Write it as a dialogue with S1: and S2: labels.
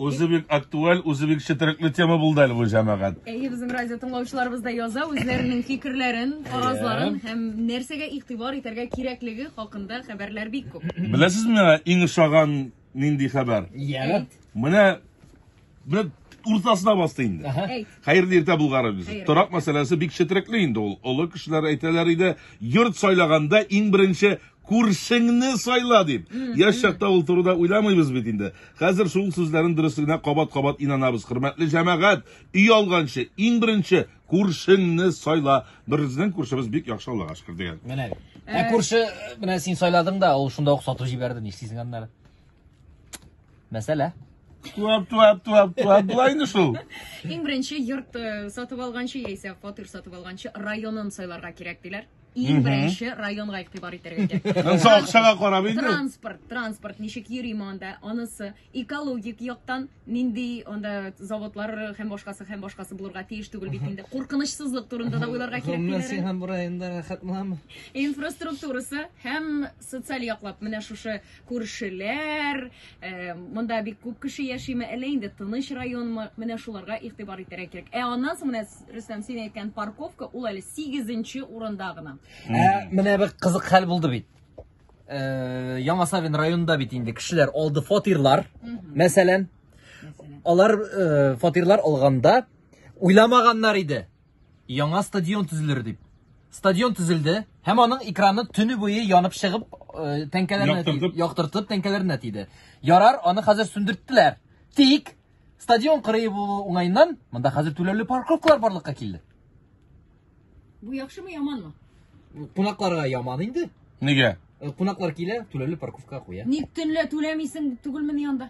S1: Үзе бик актуаль, үзе бик четерекле тема булды әле бу җәмәгать. Әйе, безнең радио
S2: тыңлаучыларыбыз да яза үзләренең фикерләрен, фаразларын һәм нәрсәгә игътибар итәргә кирәклеге хакында хәбәрләр бик күп. Беләсезме миңа иң
S1: ошаган нинди хәбәр? Ягы. Менә менә уртасына басты инде. Әйт. Хәерле иртә Булгаров без. Хәерле. Торак мәсьәләсе бик четерекле инде ул. Олы кешеләр әйтәләр иде, йорт сайлаганда иң беренче Күршеңне сайла, дип. Яшь чакта ул турыда уйламыйбыз бит инде. Хәзер шул сүзләрнең дөреслегенә кабат-кабат инанабыз. Хөрмәтле җәмәгать, өй алганчы, иң беренче, күршеңне сайла. Беребезнең күршебез бик яхшы, Аллага шөкер, дигән. Менә бит. Ә
S3: күрше, менә син сайладың да, ул шунда ук сатып җибәрде, нишлисең аннары? Мәсьәлә. Туап,
S1: туап, туап, туап, була инде шул. Иң беренче
S2: йорт э, сатып алганчы яисә фатир сатып алганчы районын сайларга кирәк диләр. Иң беренче районга игътибар итәргә кирәк. Ансы акчага карап инде.
S1: Транспорт, транспорт
S2: ничек йөри монда? Анысы экологик яктан нинди анда заводлар һәм башкасы һәм башкасы булырга тиеш түгел бит инде. Куркынычсызлык турында да уйларга кирәк диләр. Гомумән һәм районда рәхәт
S3: буламы? Инфраструктурасы
S2: һәм социаль яклап менә шушы күршеләр, э, монда бик күп кеше яшиме, әллә инде тыныч районмы, менә шуларга игътибар итәргә кирәк. Ә аннан соң менә Рөстәм син әйткән парковка ул әле 8нче урында гына. Ә, менә
S3: бер кызык хәл булды бит. Э, Яңа Савин районында бит инде кешеләр алды фатирлар. Мәсәлән, алар э, фатирлар алганда уйламаганнар иде. Яңа стадион төзелер дип. Стадион төзелде һәм аның экраны төне буе янып чыгып, э, тәңкәләренә Яктыртып. ти- яктыртып тәңкәләренә тиде. Ярар, аны хәзер сүндерттеләр. Тик стадион кырые булу уңаеннан монда хәзер түләүле парковкалар барлыкка килде.
S2: Бу яхшымы, яманмы? Кунакларга
S3: яман инде. Нигә? Э,
S1: Кунаклар килә,
S3: түләүле парковка куя. Ник төнлә түләмисең
S2: түгелмени анда?